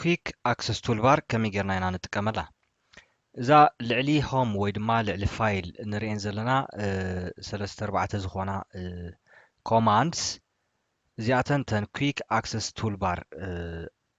ኲክ ኣክሰስ ቱልባር ከመይ ጌርና ኢና ንጥቀመላ እዛ ልዕሊ ሆም ወይ ድማ ልዕሊ ፋይል እንርእየን ዘለና ሰለስተ ኣርባዕተ ዝኾና ኮማንድስ እዚኣተን ተን ኲክ ኣክሰስ ቱልባር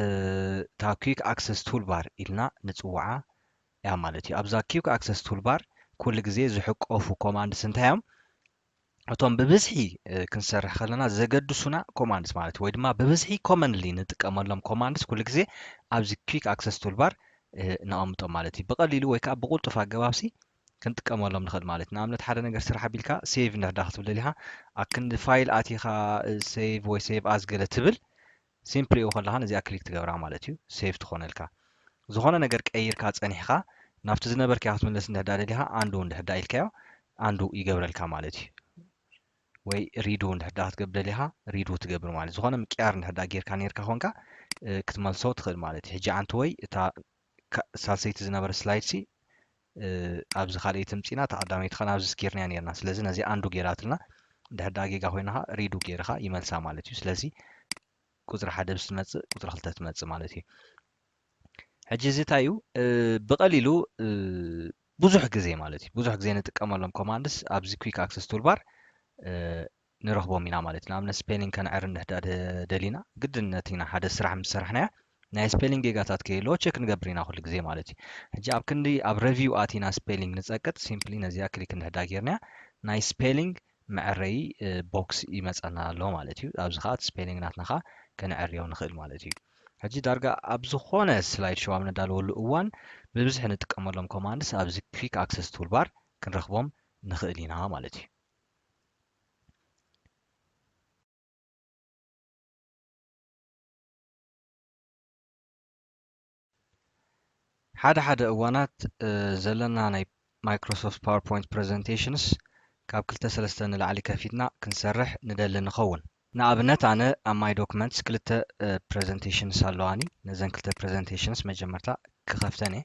እታ ኲክ ኣክሰስ ቱልባር ኢልና ንጽውዓ እያ ማለት እዩ። ኣብዛ ኲክ ኣክሰስ ቱልባር ኩሉ ግዜ ዝሕቆፉ ኮማንድስ እንታይ እዮም? እቶም ብብዝሒ ክንሰርሕ ከለና ዘገድሱና ኮማንድስ ማለት እዩ፣ ወይ ድማ ብብዝሒ ኮመንሊ ንጥቀመሎም ኮማንድስ ኩሉ ግዜ ኣብዚ ኲክ ኣክሰስ ቱልባር ነቐምጦም ማለት እዩ። ብቐሊሉ ወይ ከዓ ብቕልጡፍ ኣገባብሲ ክንጥቀመሎም ንኽእል ማለት እዩ ንኣብነት ሓደ ነገር ስራሕ ኣቢልካ ሴቭ እንድሕዳ ክትብል ደሊኻ ኣብ ክንዲ ፋይል ኣቲኻ ሴቭ ወይ ሴቭ ኣዝ ገለ ትብል Simply ኡ ከለኻ ነዚኣ ክሊክ ትገብራ ማለት እዩ save ትኾነልካ። ዝኾነ ነገር ቀይርካ ጸኒሕኻ ናብቲ ዝነበርካዮ ክትምለስ እንድሕዳ ደሊኻ undo እንድሕዳ ኢልካዮ undo ይገብረልካ ማለት እዩ። ወይ redo እንድሕዳ ክትገብር ደሊኻ redo ትገብር ማለት እዩ። ዝኾነ ምቅያር እንድሕዳ ጌርካ ኔርካ ኮንካ ክትመልሶ ትኽእል ማለት እዩ። ሕጂ ኣንቲ ወይ እታ ሳልሰይቲ ዝነበረት ስላይድ ሲ ኣብዚ ካልኤይ ትምጺና ተቀዳመይቲ ከኣ ናብዚ ስጊርንያ ኔርና ስለዚ ነዚኣ ኣንዱ ጌራትልና ድሕሪ ድኣ ጌጋ ኮይና ከኣ ሪዱ ጌርኻ ይመልሳ ማለት እዩ ስለዚ ቁጽሪ ሓደ ምስ ትመጽእ ቁጽሪ ክልተ ትመጽእ ማለት እዩ ሕጂ እዚ እንታይ እዩ ብቀሊሉ ብዙሕ ግዜ ማለት እዩ ብዙሕ ግዜ ንጥቀመሎም ኮማንድስ ኣብዚ ኩክ ኣክሰስ ቱልባር ንረኽቦም ኢና ማለት እዩ። ንኣብነት ስፔሊንግ ከነዕሪ እንድሕዳ ደሊና ግድነት ኢና ሓደ ስራሕ ምስ ሰራሕናዮ ናይ ስፔሊንግ ጌጋታት ከየለዎ ቸክ ንገብር ኢና ኩሉ ግዜ ማለት እዩ። ሕጂ ኣብ ክንዲ ኣብ ረቪው ኣቲና ስፔሊንግ ንጸቅጥ ሲምፕሊ ነዚኣ ክሊክ እንድሕዳ ጌርናያ ናይ ስፔሊንግ መዐረዪ ቦክስ ይመጸና ኣሎ ማለት እዩ። ኣብዚ ከኣ እቲ ስፔሊንግ ናትና ከኣ ከነዐርዮ ንኽእል ማለት እዩ። ሕጂ ዳርጋ ኣብ ዝኾነ ስላይድ ሾው ኣብ ነዳልወሉ እዋን ብብዝሒ ንጥቀመሎም ኮማንድስ ኣብዚ ኲክ ኣክሰስ ቱልባር ክንረኽቦም ንኽእል ኢና ማለት እዩ። ሓደ ሓደ እዋናት ዘለና ናይ ማይክሮሶፍት ፓወርፖይንት ፕረዘንቴሽንስ ካብ ክልተ ሰለስተ ንላዕሊ ከፊትና ክንሰርሕ ንደሊ ንኸውን። ንኣብነት ኣነ ኣብ ማይ ዶክመንትስ ክልተ ፕረዘንቴሽንስ ኣለዋኒ ነዘን ክልተ ፕረዘንቴሽንስ መጀመርታ ክኸፍተን እየ።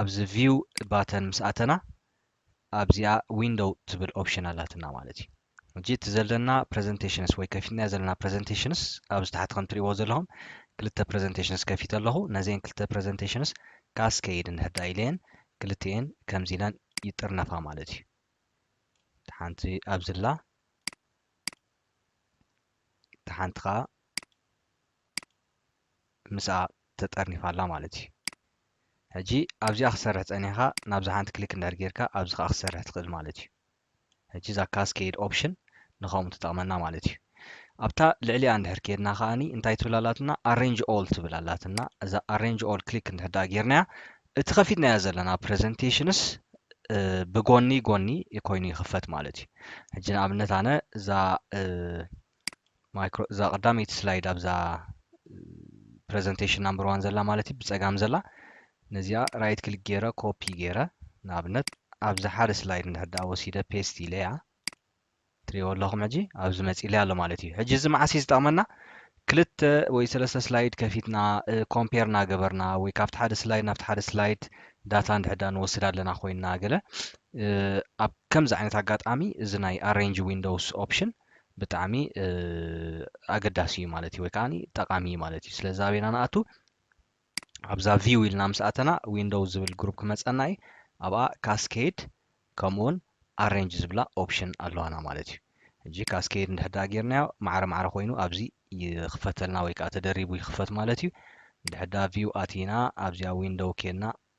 ኣብዚ ቪው ባተን ምስ ኣተና ኣብዚኣ ዊንዶው ትብል ኦፕሽን ኣላትና ማለት እዩ ሕጂ እቲ ዘለና ፕረዘንቴሽንስ ወይ ከፊትናዮ ዘለና ፕረዘንቴሽንስ ኣብዚ ታሕቲ ከም ትሪእዎ ዘለኹም ክልተ ፕረዘንቴሽንስ ከፊተ ኣለኹ ነዚኤን ክልተ ፕረዘንቴሽንስ ካስከይድ እንድሕርዳ ኢለየን ክልቲኤን ከምዚ ኢለን ይጥርነፋ ማለት እዩ ሓንቲ ኣብዝላ ሓንቲ ከዓ ምስኣ ተጠርኒፋ ኣላ ማለት እዩ ሕጂ ኣብዚኣ ክትሰርሕ ጸኒሕካ ናብዛ ሓንቲ ክሊክ እንድሕር ጌርካ ኣብዚ ከኣ ክትሰርሕ ትኽእል ማለት እዩ ሕጂ እዛ ካስኬድ ኦፕሽን ንኸምኡ ትጠቕመና ማለት እዩ ኣብታ ልዕሊኣ እንድሕር ኬድና ከኣኒ እንታይ ትብል ኣላትና ኣሬንጅ ኦል ትብል ኣላትና እዛ ኣሬንጅ ኦል ክሊክ እንድሕር ደኣ ጌርናያ እቲ ከፊትናዮ ዘለና ፕረዘንቴሽንስ ብጎኒ ጎኒ ኮይኑ ይኽፈት ማለት እዩ ሕጂ ንኣብነት ኣነ እዛ ማይክሮ እዛ ቀዳመይቲ ስላይድ ኣብዛ ፕረዘንቴሽን ናምበር ዋን ዘላ ማለት እዩ ብፀጋም ዘላ ነዚኣ ራይት ክሊክ ገይረ ኮፒ ገይረ ንኣብነት ኣብዚ ሓደ ስላይድ እንድሕር ዳኣ ወሲደ ፔስት ኢለ እያ ትሪእዎ ኣለኹም ሕጂ ኣብዚ መፂለይ ኣሎ ማለት እዩ ሕጂ እዚ መዓስ እዩ ዝጠቕመና ክልተ ወይ ሰለስተ ስላይድ ከፊትና ኮምፔር እናገበርና ወይ ካብቲ ሓደ ስላይድ ናብቲ ሓደ ስላይድ ዳታ እንድሕዳ ንወስድ ኣለና ኮይንና ገለ ኣብ ከምዚ ዓይነት ኣጋጣሚ እዚ ናይ ኣሬንጅ ዊንዶውስ ኦፕሽን ብጣዕሚ ኣገዳሲ እዩ ማለት እዩ ወይ ከዓ ጠቃሚ እዩ ማለት እዩ ስለዚ ኣበና ንኣቱ ኣብዛ ቪው ኢልና ምስ ኣተና ዊንዶው ዝብል ግሩፕ ክመፀና እዩ ኣብኣ ካስኬድ ከምኡውን ኣሬንጅ ዝብላ ኦፕሽን ኣለዋና ማለት እዩ እጂ ካስኬድ እንድሕዳ ጌርናዮ ማዕረ ማዕረ ኮይኑ ኣብዚ ይኽፈተልና ወይ ከዓ ተደሪቡ ይኽፈት ማለት እዩ እንድሕዳ ቪው ኣቲና ኣብዚኣ ዊንዶው ኬና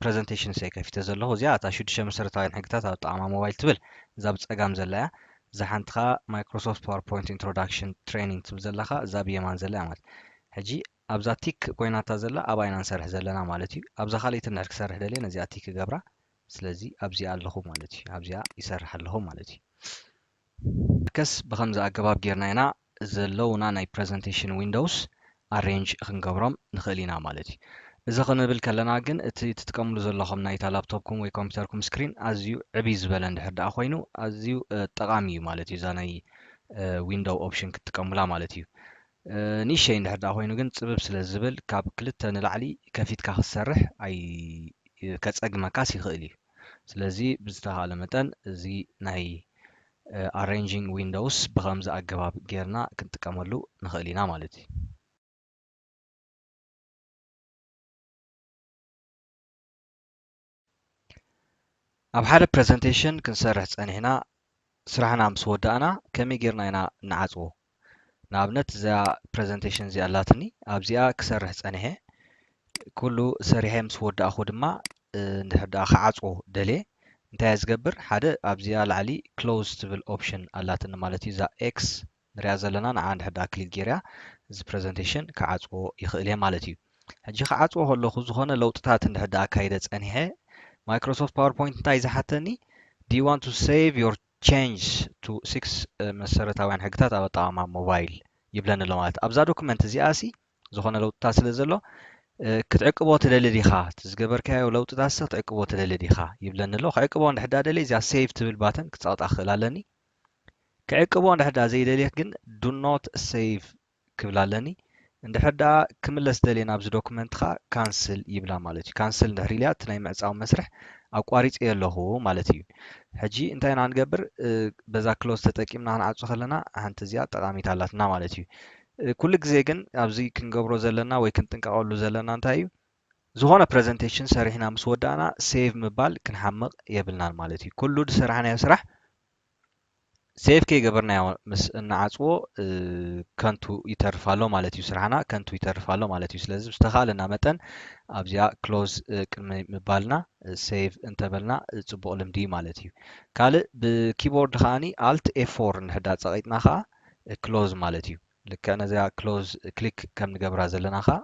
ፕረዘንተሽንስ እየ ከፊተ ዘለኩ እዚኣ እታ ሽዱሽተ መሰረታውያን ሕግታት ኣጠቓቕማ ሞባይል ትብል እዛ ብጸጋም ዘላ እያ እዛ ሓንቲ ከኣ ማይክሮሶፍት ፓወርፖይንት ኢንትሮዳክሽን ትሬኒንግ ትብል ዘላ ከኣ እዛ ብየማን ዘላ እያ ማለት ሕጂ ኣብዛ ቲክ ኮይናታ ዘላ ኣብኣ ኢና ንሰርሕ ዘለና ማለት እዩ ኣብዛ ካልኣይቲ እንድሕር ክሰርሕ ደልየ ነዚኣ ቲክ ክገብራ ስለዚ ኣብዚኣ ኣለኹ ማለት እዩ ኣብዚኣ ይሰርሕ ኣለኹ ማለት እዩ ከስ ብኸምዚ ኣገባብ ጌርና ኢና ዘለዉና ናይ ፕረዘንተሽን ዊንዶውስ ኣሬንጅ ክንገብሮም ንኽእል ኢና ማለት እዩ። እዚ ክንብል ከለና ግን እቲ ትጥቀምሉ ዘለኹም ናይታ ላፕቶፕኩም ወይ ኮምፒተርኩም ስክሪን ኣዝዩ ዕብይ ዝበለ እንድሕር ደኣ ኮይኑ ኣዝዩ ጠቓሚ እዩ ማለት እዩ እዛ ናይ ዊንዶው ኦፕሽን ክትጥቀሙላ ማለት እዩ። ንእሸይ እንድሕር ደኣ ኮይኑ ግን ጽብብ ስለ ዝብል ካብ ክልተ ንላዕሊ ከፊትካ ክትሰርሕ ኣይ ከጸግመካስ ይኽእል እዩ። ስለዚ ብዝተኻእለ መጠን እዚ ናይ ኣሬንጂንግ ዊንዶውስ ብኸምዚ ኣገባብ ጌርና ክንጥቀመሉ ንኽእል ኢና ማለት እዩ። ኣብ ሓደ ፕረዘንቴሽን ክንሰርሕ ጸኒሕና ስራሕና ምስ ወዳእና ከመይ ጌርና ኢና እንዓጽዎ? ንኣብነት እዚኣ ፕረዘንተሽን እዚኣ ኣላትኒ ኣብዚኣ ክሰርሕ ጸኒሐ ኩሉ ሰሪሐ ምስ ወዳእኹ ድማ እንድሕር ደኣ ክዓጽዎ ደልየ እንታይ እየ ዝገብር ሓደ ኣብዚኣ ላዕሊ ክሎዝ ትብል ኦፕሽን ኣላትኒ ማለት እዩ እዛ ኤክስ ንሪኣ ዘለና ንዓ እንድሕር ደኣ ክሊክ ጌርያ እዚ ፕረዘንቴሽን ክዓጽዎ ይኽእል እየ ማለት እዩ ሕጂ ክዓጽዎ ከለኹ ዝኾነ ለውጥታት እንድሕር ደኣ ኣካይደ ጸኒሐ ማይክሮሶፍት ፓወርፖይንት እንታይ ዝሓተኒ ዲ ዋን ቱ ሴቭ ዮር Changes to six መሰረታውያን ሕግታት ኣብ ኣጠቓቕማ ሞባይል ይብለኒ ኣሎ ማለት ኣብዛ ዶክመንት እዚኣ ሲ ዝኾነ ለውጥታት ስለ ዘሎ ክትዕቅቦ ትደሊ ዲኻ እቲ ዝገበርካዮ ለውጥታት ሲ ክትዕቅቦ ትደሊ ዲኻ ይብለኒ ኣሎ ክዕቅቦ እንድሕር ዳ ደልየ እዚኣ ሴቭ ትብል ባተን ክጸቕጣ ክኽእል ኣለኒ ክዕቅቦ እንድሕር ዳ ዘይደልየ ግን ዱ ኖት ሴቭ ክብላ ኣለኒ እንድሕር ደኣ ክምለስ ደልየ ናብዚ ዶኩመንትካ ካንስል ይብላ ማለት እዩ ካንስል እንድሕር ኢልያ እቲ ናይ ምዕጻው መስርሕ ኣቋሪጸዮ ኣለኩ ማለት እዩ ሕጂ እንታይ ኢና ንገብር በዛ ክሎዝ ተጠቂምና ክንዓጹ ከለና ሓንቲ እዚኣ ጠቃሚት ኣላትና ማለት እዩ ኩሉ ግዜ ግን ኣብዚ ክንገብሮ ዘለና ወይ ክንጥንቀቀሉ ዘለና እንታይ እዩ ዝኾነ ፕረዘንቴሽን ሰሪሕና ምስ ወዳእና ሴቭ ምባል ክንሓምቕ የብልናን ማለት እዩ ኩሉ ዝሰራሕናዮ ስራሕ ሴቭ ከይገበርናዮ ምስ እንዓፅዎ ከንቱ ይተርፍ ኣሎ ማለት እዩ ስራሕና ከንቱ ይተርፍ ኣሎ ማለት እዩ ስለዚ ዝተኻእለና መጠን ኣብዚኣ ክሎዝ ቅድሚ ምባልና ሴቭ እንተበልና ፅቡቕ ልምዲ ማለት እዩ ካልእ ብኪቦርድ ከዓኒ ኣልት ኤፎር ንሕዳ ፀቂጥና ከዓ ክሎዝ ማለት እዩ ልክዕ ነዚኣ ክሎዝ ክሊክ ከም ንገብራ ዘለና ከዓ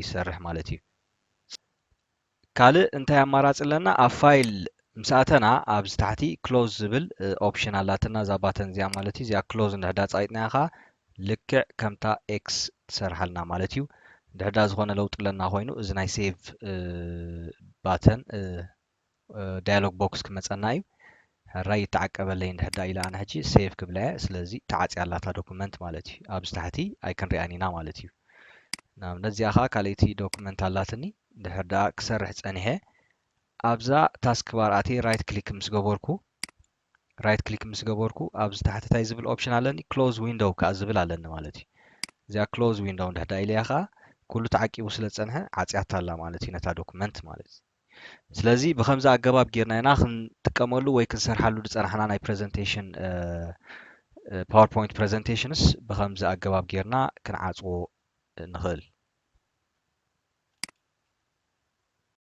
ይሰርሕ ማለት እዩ ካልእ እንታይ ኣማራጺ ኣለና ኣብ ፋይል ምስ ኣተና ኣብዚ ታሕቲ ክሎዝ ዝብል ኦፕሽን ኣላትና እዛ ባተን እዚኣ ማለት እዩ እዚኣ ክሎዝ እንድሕዳ ጻይጥናያ ከኣ ልክዕ ከምታ ኤክስ ትሰርሓልና ማለት እዩ ድሕዳ ዝኾነ ለውጢ ኣለና ኮይኑ እዚ ናይ ሴቭ ባተን ዳያሎግ ቦክስ ክመፀና እዩ ሕራይ ይተዓቀበለይ እንድሕር ደኣ ኢለ ኣነ ሕጂ save ክብላ'የ ስለዚ ተዓጽያ ኣላ እታ ዶኩመንት ማለት እዩ ኣብዚ ታሕቲ ኣይክንሪኣን ኢና ማለት እዩ ንኣብነት እዚኣ ከኣ ካልኣይቲ ዶኩመንት ኣላትኒ እንድሕር ደኣ ክሰርሕ ጸኒሐ ኣብዛ ታስክ ባር ኣትየ ራይት ክሊክ ምስ ገበርኩ ራይት ክሊክ ምስ ገበርኩ ኣብዚ ታሕቲ እንታይ ዝብል ኦፕሽን ኣለኒ ክሎዝ ዊንዶው ከኣ ዝብል ኣለኒ ማለት እዩ እዚኣ ክሎዝ ዊንዶው እንድሕር ደኣ ኢለያ ከኣ ኩሉ ተዓቂቡ ስለ ዝጸንሐ ዓጽያታ ኣላ ማለት እዩ ነታ ዶኩመንት ማለት እዩ ስለዚ ብኸምዚ ኣገባብ ጌርና ኢና ክንጥቀመሉ ወይ ክንሰርሓሉ ዝጸናሕና ናይ ፕረዘንቴሽን ፓወርፖይንት ፕረዘንቴሽንስ ብኸምዚ ኣገባብ ጌርና ክንዓጽዎ ንኽእል።